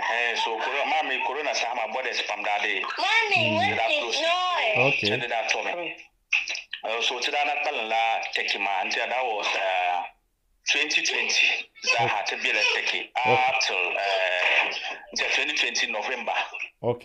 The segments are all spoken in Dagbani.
Ɛhɛɛ so koro maa mi korona saha maa bɔdɛsi pam daa be di daa close Ok. chɛndi daa tɔmi Eh, so ti daa na kpalim la Turkey maa n ti daa wɔ eh, 2020 zaaha ti bela Turkey up till eh, n ti 2020 November Ok.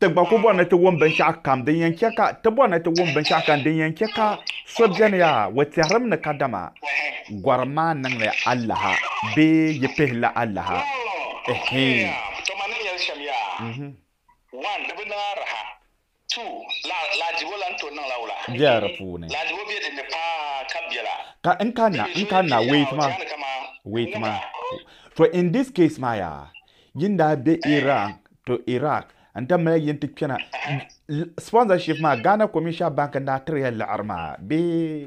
Ti gba ku bɔri ni ti wum binshɛɣu kam din yɛn chɛ ka, ti bɔri ni ti wum binshɛɣu kam din yɛn chɛ ka so beni yaa o tɛhirim ni kadama gɔrim maa niŋli alaha bee yi pihi li alaha. Ka n kanna, n kanna, wait ma, wait ma, to in this case maa yaa, Yin daa be Iran to Iraq n da mali yin ti kpena sponsorship maa Ghana Commercial Bank n daa tiri ya laɣiri maa bee.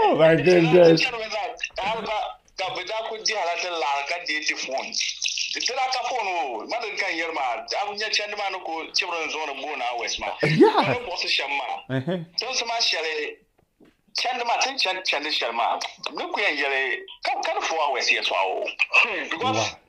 Oh my goodness. ka bɛ daa kuli dihi la din laɣiri ka deei ti foon. Di dila ka foon o, ma din ka n yɛri maa, daa nya chandi maa ni ku chibiri n zuɣu ni booni hours maa. Yeah. Ka di buɣisi shɛm maa. Uh-huh. Tinsi maa shɛli chandi maa, tin chandi chandi shɛli maa, ni ku yɛn yɛli ka ka di four hours yɛtɔɣa o. Hmm, because Wow.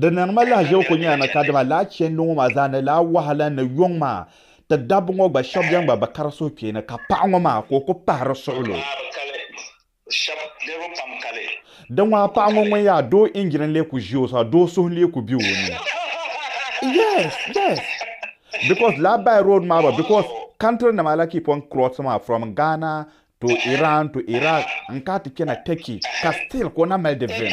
Di niŋ ma lahaʒibu ku nyɛla ni ka dama laa chɛndi ŋɔ maa zaa ni laa wahala ni yuŋ maa ti dabba ŋɔ gba shɛba beni gba bi kari suhukpeeni ka paɣa ŋɔ maa ka o ku pahiri suɣulo. Di ŋɔha paɣa ŋɔ ŋun yaa doo injin n-lee ku ʒi o sɔɣu doo suhu n-lee ku be o ni. Yes, yes. Because laa by road maa gba because country nima la keep on crossing maa from Ghana to Iran to Iraq n-kana ti chana Turkey ka still ka o na mali di vim.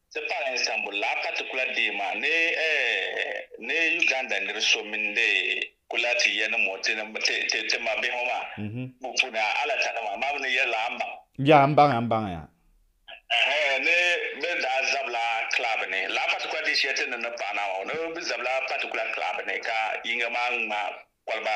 Ti pari Istanbul laa patikula dee maa ni ni Uganda nir so mini di kula ti yɛnim o ti ti mabihi ŋɔ maa bu puuni a alatanima maa mi ni yɛrila a mbaŋ. Yaa m baŋya m baŋya. Ɛhɛ ni bɛ daa zabila club ni laa patikula dee shɛli ti ni ni paɣi naa maa ŋɔ ni bɛ zabila patikula club ni ka yiŋga maa ŋma koliba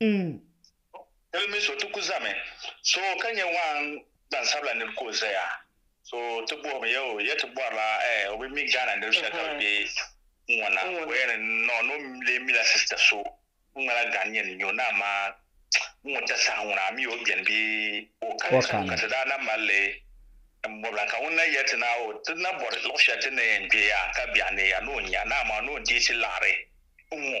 N. Dili mi so ti ku zami so ka nyɛ waan gbansabila nir ka o zaya so ti bɔhim ya o ya ti bɔrila o bi mi Ghana niriba shɛli ka bɛ be n ŋɔ na o ya ni nɔɔ ni o lee mila sista so ŋun ŋmala Ghannian n-nyɛ o ni amaa n ŋɔ ta saha ŋuna a mi o beni bee o kani so ka ti daa na mali li n bɔbila ka ŋun na ya ti na o ti na bɔri luɣ shɛli ti ni yɛn kpe ya ka biɛɣu ni ya ni o nya ni amaa ni o deei ti laɣiri n ŋɔ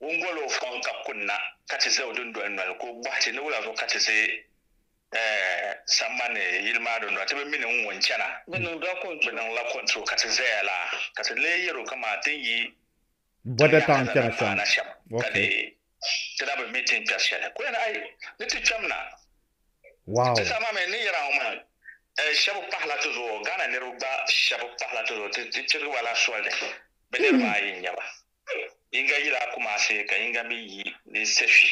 Ŋun gol o fɔŋ ka kunna, ka ti za o dundoli noli, ka o bɔhi ti ni wula zuɣu ka ti ʒe sambani yili maa dundoli, ti bi mi ni ŋun chana? Bɛ niŋla kɔntuo ka ti zaya la, ka ti lee yɛr o kaman ti ni yi tiŋ yaha shɛli din pahi na shɛm, ka dee ti na bi mi ti ni kpɛri shɛli. Ka o yɛli, Ai! Ni ti kpɛm na. Ti saha maa mi n ni yɛra ŋɔ maa, shɛb pahila ti zuɣu, Ghana niriba gba shɛb pahila ti zuɣu, ti chirigi ba la soli ni bɛ niriba ayi n-nyɛ ba. Yiŋga yila a Kumasi ka yiŋga mi yi di Sefwi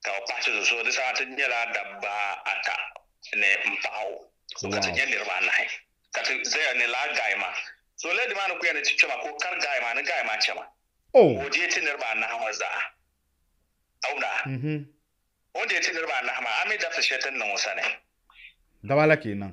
ka o pahi ti zuɣu so di saha ti nyɛla dabba ata ni m paɣa o ka ti nyɛ niriba anahi ka ti zaya ni lala gaai maa so lala di maa ni ku yɛn ni ti kpɛma ka o kari gaai maa ni gaai maa chɛma ka o deei ti niriba anahi ŋɔ zaa a wumda a o ni deei ti niriba anahi maa a mi dabisi shɛli ti ni niŋ o sani. Dabala kenan.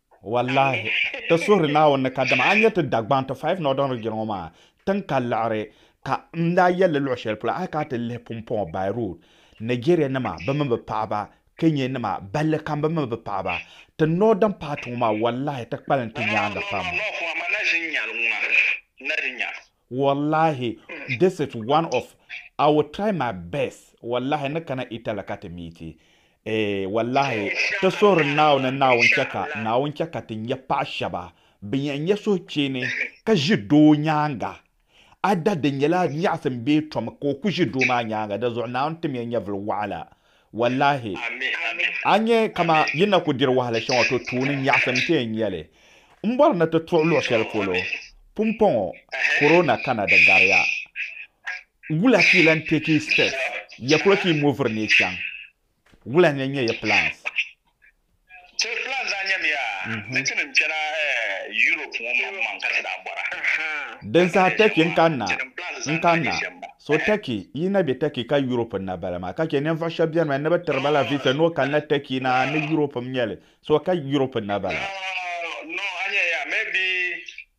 Wallahi, ti suhiri Naawuni ni ka dama a nyɛ ti Dagbaŋ, ti Five Northern Region ŋɔ maa tiŋ ka liɣiri ka n daa yɛli li luɣ'shɛli polo a yi kana ti lihi Pumpɔŋɔ by road, Nigeria nima bɛ mini bɛ paɣaba, Kenya nima balli kam bɛ mini bɛ paɣaba, ti Northern part ŋɔ maa wallahi ti kpalim ti nyaaŋa pam. Wallahi this is one of I will try my best wallahi ni kana Italy ka ti miiti eh wallahi ti suhiri Naawuni Naawuni chɛ ka Naawuni chɛ ka ti nya paɣa shɛba bin yɛn nyɛ suhucheeni ka ʒi doo nyaaŋa either di nyɛla nyaɣisim bee tom ka o ku ʒi doo maa nyaaŋa dinzuɣu Naawuni tim ya nyɛvili waɣila Wallahi a nyɛ kama yi na ku diri wahala shɛŋa to tuuni nyaɣisim n-ti yɛn nya li. M bɔri ni ti tuɣi luɣ shɛli polo pumpɔŋɔ Corona kana di gariya. Wula ka yi lan take yi steps? Ya polo ka yi moviri ni yi chaŋ? Wula n-yɛn nyɛ yi plans? Ti plan daa nyɛmiya ni ti ni kpɛna Europe ŋɔ maŋ maŋ ka ti daa bɔra. Din saha Turkey n-kanna, n-kanna. So Turkey, yi na be Turkey ka Europe n-na bala maa. Ka che ninvuɣ shɛb beni maa ni bɛ tiri ba la visa ni o kanna Turkey na ni Europe m-nya li. So ka Europe n-na bala. No, no, a nyɛya, maybe,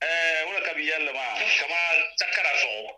eh, wula ka bɛ yɛl li maa, kaman takara zuɣu.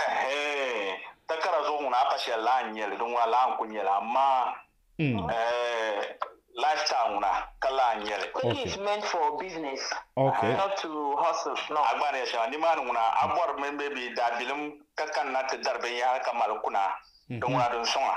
Ɛhee, takara zuɣu ŋuna a pa shɛli laa n-nyɛ li, di ŋuna laa n-kul nyɛ li, amaa ɛɛh, lifestyle ŋuna ka laa n-nyɛ li. Money is meant for business, not to hustle. A gba ni yɛli shɛŋa nimaani ŋuna, a bɔri mini bɛ bi daabilim ka kanna ti dari binyɛhiri ka mali kuna, di ŋuna di n-sɔŋ a.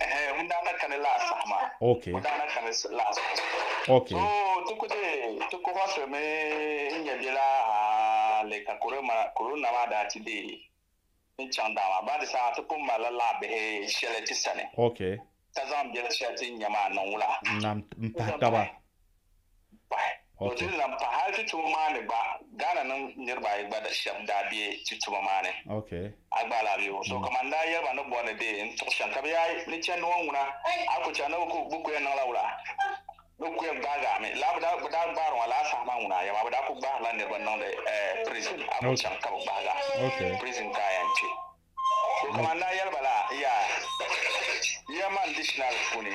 Eh, ŋun daa na kani last saha maa. Okay. Ŋun daa na kani last saha maa. Okay. So ti ku deei ti kohɔsi mi n nya bela hali ka corona maa daa ti deei n chaŋ daa maa baadi saha ti pun malila laɣ bihi shɛli ti sani. Okay. Ka zaŋ bela shɛli ti ni nya maa niŋ wula. Nam m pahi taba. pahi. O dini lahi pahi hali ti tuma maa ni gba Ghana niŋ niriba ayi gba shɛba daa be ti tuma maa ni. A gba lahi be o so ka man daa yɛli ba ni bɔri ni dee n tuɣi shɛm ka be yaai ni chandi ŋɔ ŋuna a ku chandi ni be ku yɛn niŋla wula be ku yɛn gbaagi a mi lala be daa gbaari ŋɔ lala saha maa ŋuna a yɛma be daa ku gbaari la niriba niŋdi prison a ku chaŋ ka be gbaagi a prison ka a yɛn kpe so ka man daa yɛli ba la yaa yɛma n dictionary puuni.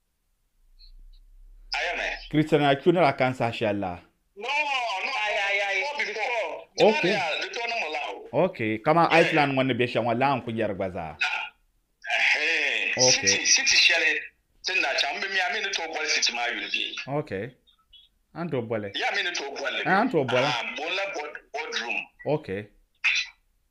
Christian a kyo nira kan saha shɛli la. Ok. Ok, kama Iceland ŋɔ ni bɛ shɛŋa laa n ku yɛri gba zaa. Ok. Ok. An tooi boli. An tooi boli. Ok.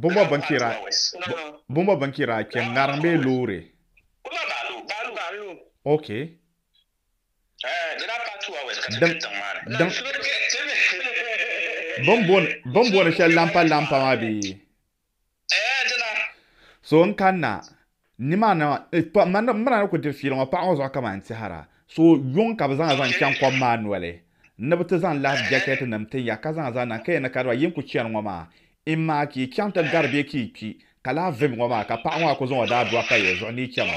Bɔbɔ bɛn kpira kpɛ ŋariŋ bee loori? Ok. Bɛn bɔni shɛli lampa lampa maa bee? So n kanna nimaani n bina ni ku diri fiili ŋɔ paɣa ŋɔ zuɣu kaman tɛhira so yuŋ ka bɛ zaŋ zaŋ chaŋ kom maa noli ni bɛ ti zaŋ lahi jɛkɛtinim tin ya ka zaŋ zaŋ niŋ ka yɛn ni kariba yi ni ku chani ŋɔ maa imaa ka yi chaŋ ti gari bɛ ka yi kpi ka lahi vim ŋɔ maa ka paɣa ŋɔ a ku zaŋ o daadua pa ya zuɣu ni yi chɛma.